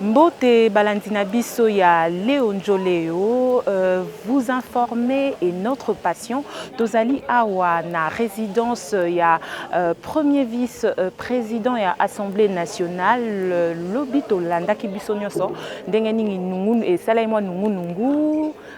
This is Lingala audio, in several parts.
Mbote balandi na biso ya Leo Njoleo, euh, vous informer et notre passion. Tozali awa na résidence ya euh, premier vice euh, président ya Assemblée nationale euh, lobi tolandaki biso nyonso ndenge nini nungu esalai mwa nungu nungu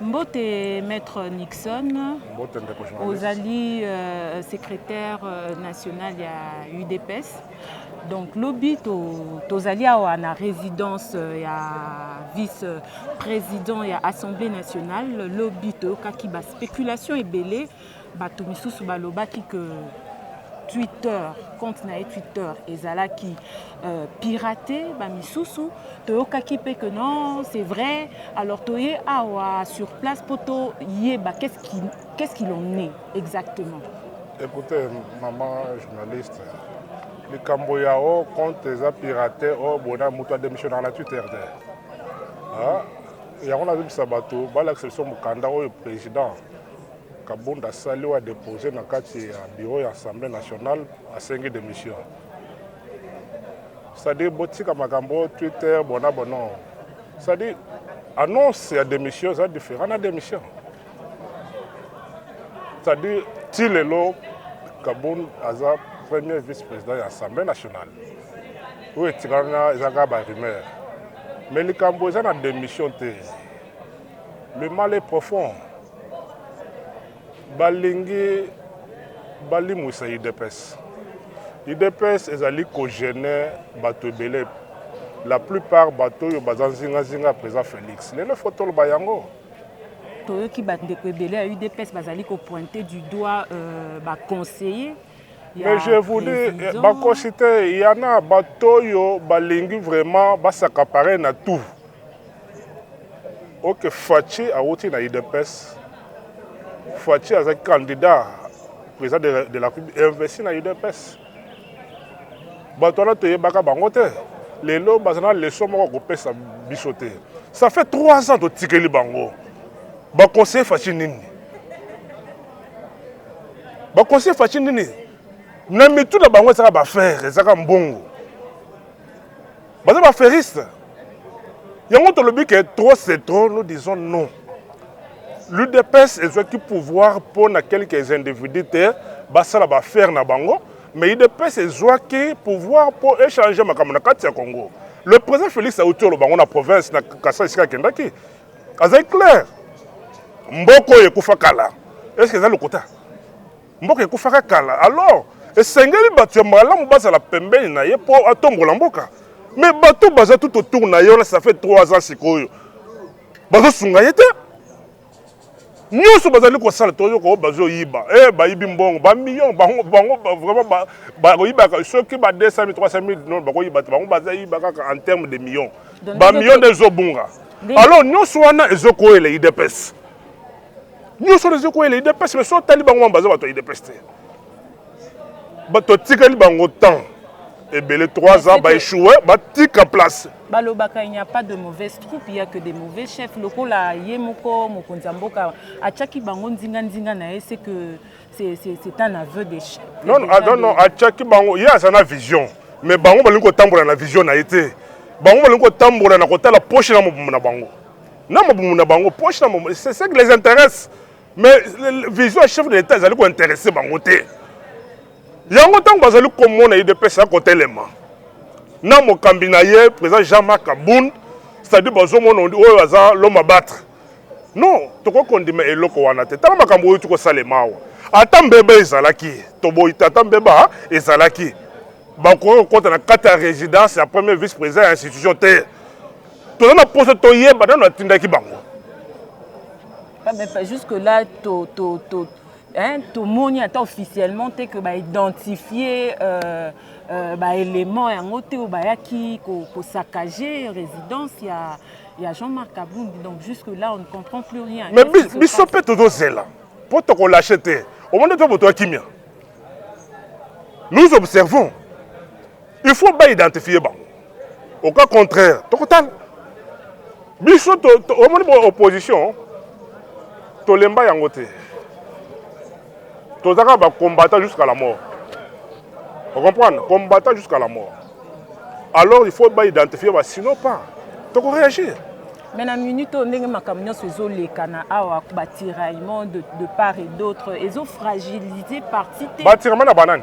Mbote Maître Nixon. Mbote ndeko journaliste. Ozali euh, secrétaire euh, national ya UDPS. Donc lobi tozali awa na résidence euh, ya vice président ya Assemblée nationale lobi toyokaki ba spéculation ebele Bato misusu balobaki que Twitter, compte na ye Twitter ezalaki euh, pirate ba misusu toyokaki mpe que non c'est vrai alors toye awa sur place mpo toyeba qu'est-ce qu'il qu qu en est exactement écoutez maman journaliste likambo ya o compte eza pirate o bona moto adémissionnaka na twitter te ah, yango nazobisa bato balakisa biso mokanda oyo président Kabund asali oyo adepose na kati ya bureau ya Assemblée nationale, asengi demission. C'est-à-dire botika makambo Twitter bona bono. C'est-à-dire annonce ya demission eza différent na demission. C'est-à-dire ti lelo Kabund aza premier vice-président ya Assemblée nationale. Oyo etikala eza kaka ba rumeur. Mais likambo eza na demission te. Le mal est profond. Balingi balimwisa UDPS. UDPS ezali kogene bato ebele la plupart bato oyo baza nzingazinga président Félix. Lelo faut toloba yango. Toyoki bandeko ebele ya UDPS bazali kopointe du doigt euh, baconseiller mais je vous dis eh, bakosi te yana bato oyo balingi vraiment basaka pareil na tout Ok Fatshi awuti na udps. Fatshi azaki candidat président de la, de la République investi na udps. Bato wana toyebaka bango te. Lelo baza na leçon moko kopesa biso te. Ça fait trois ans totikeli bango. Baconseiller Fatshi nini? Baconseiller Fatshi nini? Na mitu na bango ezaka ba affaires, ezaka mbongo. baza ba feriste yango tolobi ke trop c'est trop nous disons non l'udps ezwaki pouvoir mpo na quelques individus te basala baaffaire na bango mais udps ezwaki pouvoir mpo echange makambo na kati ya congo le président félix auti oloba yango na province na kasa esika akendaki azali claire mboka oyo ekufa kala eske eza lokuta Mboka ekufaka kala alors esengeli batu ya malamu bazala pembeni na ye po atombola mboka mais batu baza tout autour na ye wana ça fait trois ans sikoyo bazo sunga ye te nionso bazali kosala tozo ko bazo yiba eh bayibi mbongo ba millions bango bango vraiment ba bakoyibaka soki ba 200 000 300 000 non bakoyiba te bango baza yiba kaka en terme de millions ba millions nde ezobunga alors nionso wana ezokoyela idps nyonso wana ezokweyela idps me so otali bango wana baza bato ya idps te bato atikali bango temps ebele 3 ans baechoue batika place balobaka il n'y a pas de mauvaise troupe il y a que des mauvais chefs lokola ye moko mokonzi ya mboka atiaki bango nzinganzinga na ye c'est que c'est un aveu de chef non non, ah, non, non atiaki bango ye aza na vision mais bango balingi kotambola na vision na ye te bango balingi kotambola na kotala poche na mobumbu na bango na mabumu na bango poche na mabumu c'est ce qui les intéresse mais vision ya chef de l'état ezali kointeresse bango te yango ntango bazali komona udps ya kotelema na mokambi na ye président jean marc abund c'est-à-dire bazomona oyo aza l'homme abattre non tokoki kondima eloko wana te ntango makambo oyo tikosalema awa ata mbeba ezalaki toboyi te ata mbeba ezalaki bakoki kokota na kati ya résidence ya premier vice président ya institution te toza na poso toyeba nano atindaki bango ah, jusque là to, to, to, hein, tomoni ata officiellement te que baidentifie euh, euh, baélément yango te oyo bayaki kosacage ko résidence ya, ya jean-marc abundi donc jusque là on ne comprend plus rien mais biso mpe tozozela mpo tokolashe te omoni to moto ya kimia nous observons Il faut ba identifier bango. Au cas contraire, tokotala. Biso to, to omoni bo opposition tolemba yango te. Tozaka ba combattant jusqu'à la mort. Vous comprenez? Combattant jusqu'à la mort. Alors il faut ba identifier ba sinon pas. Toko réagir. Mais na minute oyo ndenge makambo nyonso ezolekana awa batiraillement de, de part et d'autre ezofragilise parti te batiraillement na banani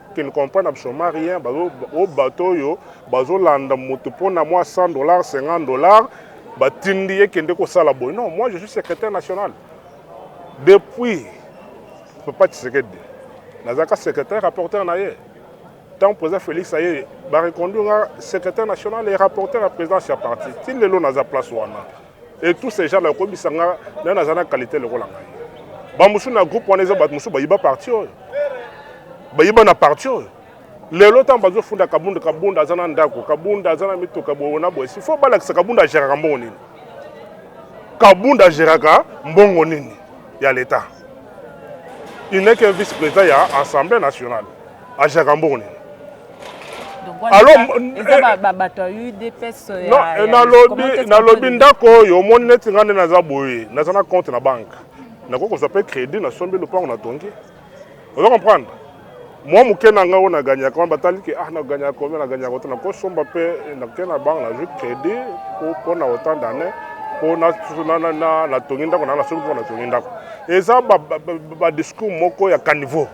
Ken ne comprend absolument rien bazo o bato oyo bazolanda moto mpo na mwa 100 dollars 50 dollars batindi ye kende kosala boye non moi je suis secrétaire national depuis papa tshisekedi nazalaka secrétaire rapporteur na ye ntango président félix aye bareconduire nga secrétaire national e rapporteur ya présidence ya parti ti lelo naza place wana Et tous ces gens là ko bisa nga na na zana qualité le kola ngai. Ba musu na groupe wana eza ba musu ba yiba parti oyo. Ba yiba na parti oyo. Lelo ntango bazofunda kabunda kabunda aza na ndako kabunda aza na mituka boye na boye sifo balakisa kabunda ageraka mbongo nini kabunda ageraka mbongo nini ya leta il n'est qu'un vice président ya assemblée nationale Ajaka mbongo nini nalobi ndako oyo omoni neti ngai nde naza boye naza na compte na banke nakoki kozwa mpe crédit nasombi lopango natongi oza comprendre mwa moke na ngai oyo naganyaka wana batali ke ah naganyaka kombe naganyaka te nakosomba mpe nake na banke nazwi crédit mpo na autant d'année mpo natongi ndako na nasombi mpo natongi ndako eza badiscours moko ya caniveau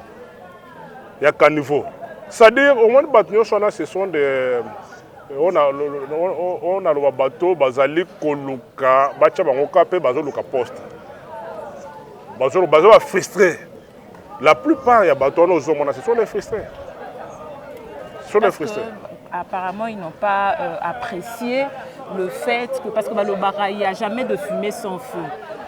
ya caniveau c'est-à-dire omoni bato nyonso wana ce sont de euh, oyo naloba bato bazali koluka batya bango ka mpe bazoluka poste baza bafrustre la plupart ya bato wana ozomona ce sont des frustre ce sont des frustre Apparemment, ils n'ont pas euh, apprécié le fait que, parce que Balobara, il n'y a jamais de fumée sans feu.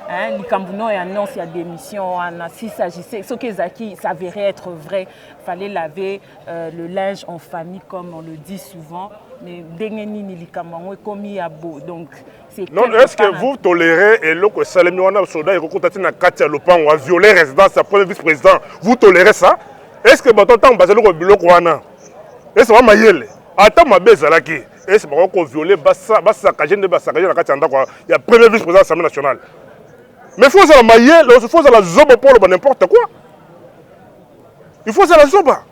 Hein, likambo no ya annonce ya démission wana s'il s'agissait soki ezalaki s'avérait être vrai fallait laver euh, le linge en famille comme on le dit souvent mais ndenge nini likambo yango ekomi ya bo donc c'est non quelque est-ce que part un- vous tolérez eloko esalemi wana soda ekokota ti na kati ya lopango a viole résidence ya premier vice président vous tolérez ça est ce que bato ntango bazali ko biloko wana Est ce que ba mayele ata mabe ezalaki est ce que bakoki ko violer ba saccager nde ba saccager na kati ya ndaku ya premier vice president ya assemblee nationale? Mais faut ozala mayele faut ozala zoba po oloba n'importe quoi il faut ozala zoba.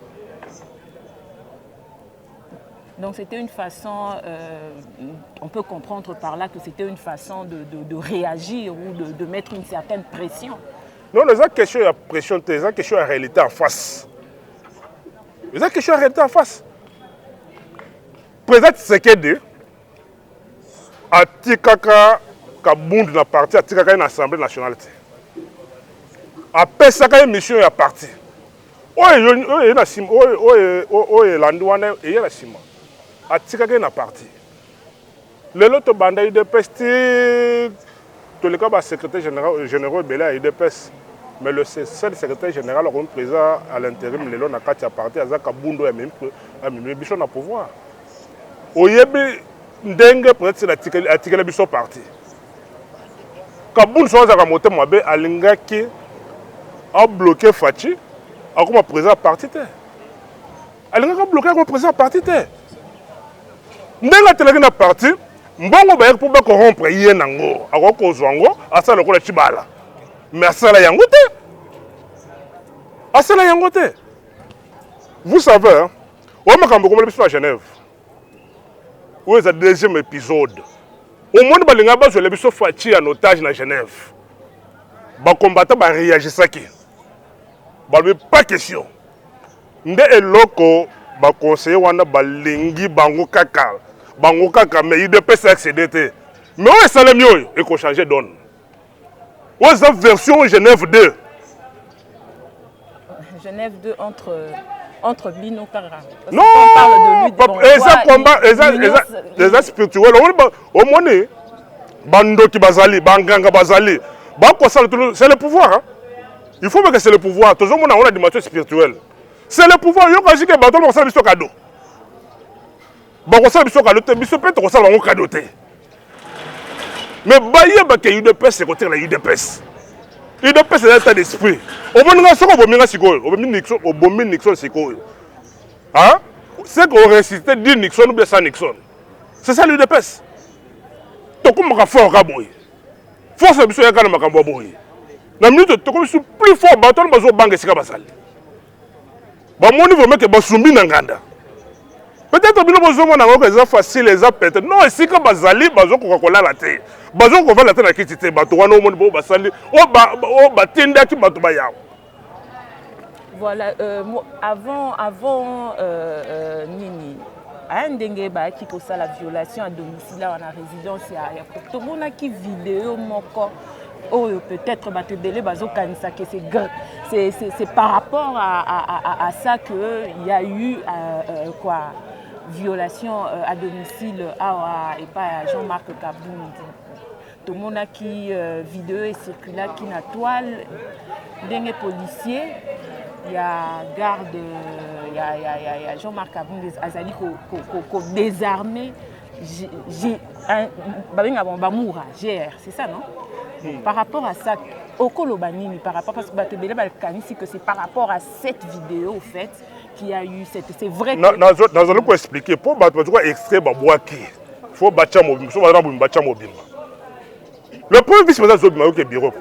Donc c'était une façon, euh, on peut comprendre par là que c'était une façon de, de, de réagir ou de, de, mettre une certaine pression. Non, les questions, il y a pression, les questions, il y a réalité en face. eza question ya réalité en face président tshisekedi atikaka kabundu na parti atikaka ye na assemblée nationale te apesaka ye mission ya parti oyo elandi wana eye na nsima atikaka ye na parti Lelo to banda udps ti to leka ba secretaire general generaux ebele ya udps mais le seul secretaire general akomi president à l'interim lelo na kati ya parti aza kabundo ya mimi ya mimi biso na pouvoir oyebi ndenge peut être atikeli atikeli biso parti kabundo so azaka mote mabe alingaki a bloquer fachi akoma president parti te alingaki abloke yango président ya parti te ndenge atelaki na parti mbongo bayaki mpo bakorrompre ye nango akoki kozwa yango asala lokola cibala mais asala yango te asala yango te vous savez oyo makambo ekomeli biso na genève oyo eza deuxième épisode omoni balingaki bazwela biso faci ya notage na genève bacombatant bareagisaki balobi pas question Nde eloko ba conseillers wana balingi bango kaka bango kaka mais udps ex aide te mais oyo esalemi oyo eko changer donne oyo eza version Genève 2 Genève 2 entre entre bino kaka non eza combat eza eza eza spirituel omoni bandoki bazali banganga bazali bakosala c'est le pouvoir hein? Il faut que c'est le pouvoir. Toujours mon on a dimension spirituelle. C'est le pouvoir. Yo quand je que bateau on sala biso cadeau. Ba ko sala biso cadeau te, biso pe to sala bango cadeau te. Mais baye ba ke UDPS c'est côté la UDPS. UDPS c'est l'état d'esprit. Au moins nga soko bomi nga sikoyo, obomi Nixon, obomi Nixon sikoyo. Hein? C'est qu'on ressuscite dit Nixon ou bien sans Nixon. C'est ça l'UDPS. Tokumaka fort kaboy. Force na biso yaka na makambo ya boye. Na minute tokomi su plus fort bato wana bazobanga esika bazali. Bamoni vraimen ke basumbi na nganda. Peut-être bino bozongo na ngoka eza facile eza pete. Non esika bazali bazokoka kolala te. Bazokoka kovanda te na kiti te bato wana omoni bo basali oyo batindaki bato bayawa. Voilà, euh, avant, avant euh, euh, Nini, hein, ndenge bayaki kosala violation à domicile awa na résidence ya tomonaki video moko oyo peut-être bato ebele bazokanisa que c'est par rapport à, à, à, à ça que il y a eu euh, euh, quoi violation euh, à domicile awa epai ya Jean-Marc Kabundi tomonaki euh, video ecirculaki na toile ndenge policier ya garde euh, ya, ya, ya, ya jean marc abundes azali kodesarme babenga bango bamura gr c'est ça non hmm. par rapport à ça okoloba nini par rapport parce que bato ebele bakanisi que c'est par rapport à cette vidéo au fait qui a eu cette c'est vrai que nazali ko expliquer po bato bazo ko extrait ba bwaki faut bacha mobimba so bazana bobimba bacha mobimba le premier vice président azobima yoke bureau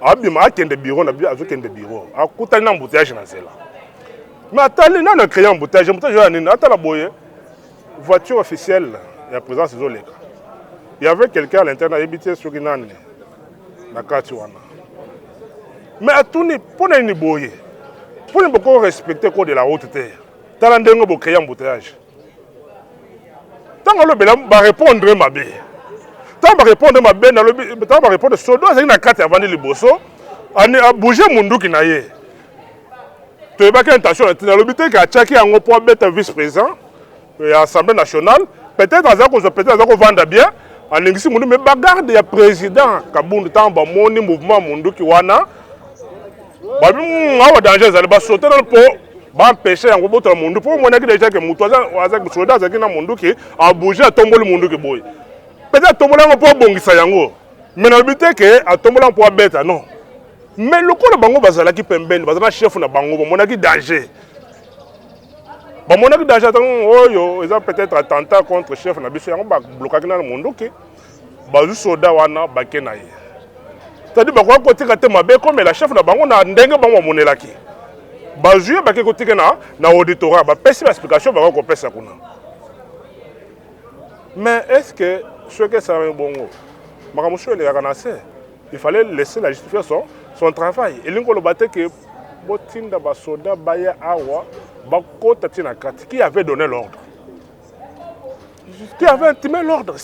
abima akende bureau na azokende bureau akutani na embouteillage na nzela mais atali nani acreye embouteillage embouteillage oyo ya nini atala boye Voiture officielle ya presence ezo leka. Il y avait quelqu'un à l'intérieur na yebi te soki nani na kati wana. Mais atuni pona nini boye? Pona boko respecter code de la route te. Tala ndenge bo créer embouteillage. Tango lobela ba répondre mabe. Tango ba répondre mabe na lobi tango ba répondre sodo azali na kati avandi liboso. Ani a bouger munduki na ye. toyebaki intention na ntina alobi te ke atiaki yango mpo abeta vice président euh, ya assemblée nationale peut-être aza kozwa peut-être aza kovanda bien alingisi mundu mais bagarde ya président kabundu ntango bamoni mouvement munduki wana babi hmm, awa danger ezali basote nano mpo bampeshe yango botola mundu mpo omonaki deja ke moto soda azalaki na munduki abouge atomboli munduki boye peut-être atombola yango mpo abongisa yango mais nalobi te ke atombola mpo abeta non Mais lokola bango bazalaki pembeni, bazala chef na bango, bamonaki danger. Bamonaki danger atango oyo eza peut-être attentat contre chef na biso yango ba blokaki na monduki. Bazu soda wana bake na ye. C'est-à-dire bakoka kotika te mabe komela chef na bango na ndenge bango bamonelaki. Bazwi bake kotika na na auditorat, bapesi ba explication bako kopesa kuna. Mais est-ce que soki esalami bongo makambo mosusu elekaka na se? Il fallait laisser la justice faire son, son travail. Et l'ingolo batte que botinda ba soda baya awa bakota tina kati qui avait donné l'ordre qui avait intimé l'ordre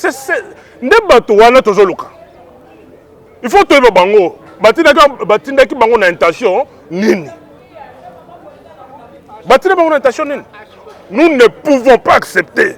nde bato wana tozoluka il faut toyeba bango batindaki bango na intention nini batinda bango na intention nini nous ne pouvons pas accepter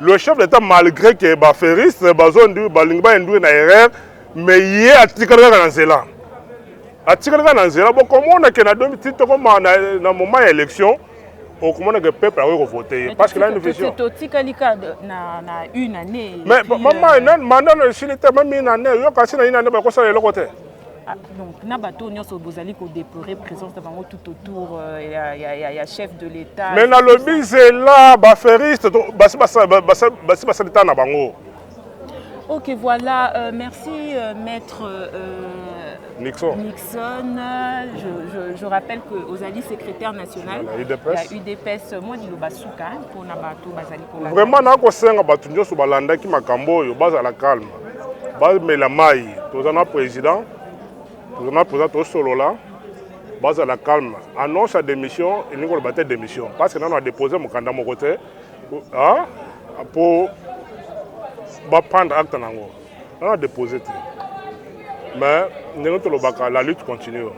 Le chef d'etat malgré que ba ferriste bazo balingi ba induire na erreur mais ye atikali kaka na nzela atikali kaka na nzela bokomona ke na ti tokoma na, na moment ya élection okomona ke peuple akoki kovote ye parce que na une vision totikali ka na, na une année mais mama euh, nani manda na esili te meme une année yoka si na une année bakosala eloko te Ah, donc na bato oyo nyonso bozali kodeplore présence na bango tout autour euh, ya, ya, ya, ya chef de l'état mais nalobi zela baferiste basi basali ta na bango ok voilà euh, merci euh, maître euh, Nixon. Nixon, je, je, je rappelle que Ozali secrétaire national ya UDPS, UDPS moi di Lobasuka hein, pour na bato bazali ko Vraiment na ko senga bato nyoso balandaki makambo oyo bazala calme. bamela mai toza na président toza na président tosolola bazala calme annonce ya démission elingi koloba te démission parce que nano adépose mokanda moko te mpo baprendre acte na yango nano adépose te mais ndenge tolobaka la lutte continue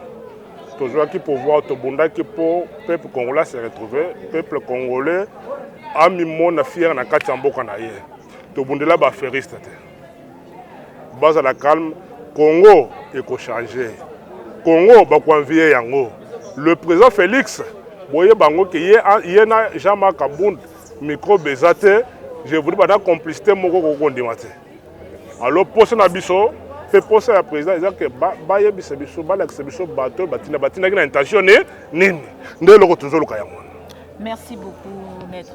tozwaki pouvoir tobundaki mpo peuple congolais se retrouve peuple congolais amimona fiere na kati ya mboka na ye Tobundela ba feriste te. Bazala calme. Congo ekochange. Congo bakoanviye yango. Le président Félix boye bango ke ye, ye na Jean-Marc Kabund microbe eza te. Je voudrais bana complicité moko kokondima te. Alors posa na biso mpe posa ya président eza ke bayebisa ba biso balakisa biso bato batina batindaki na intention nini nde eloko tozoluka yango wana. Merci beaucoup maître.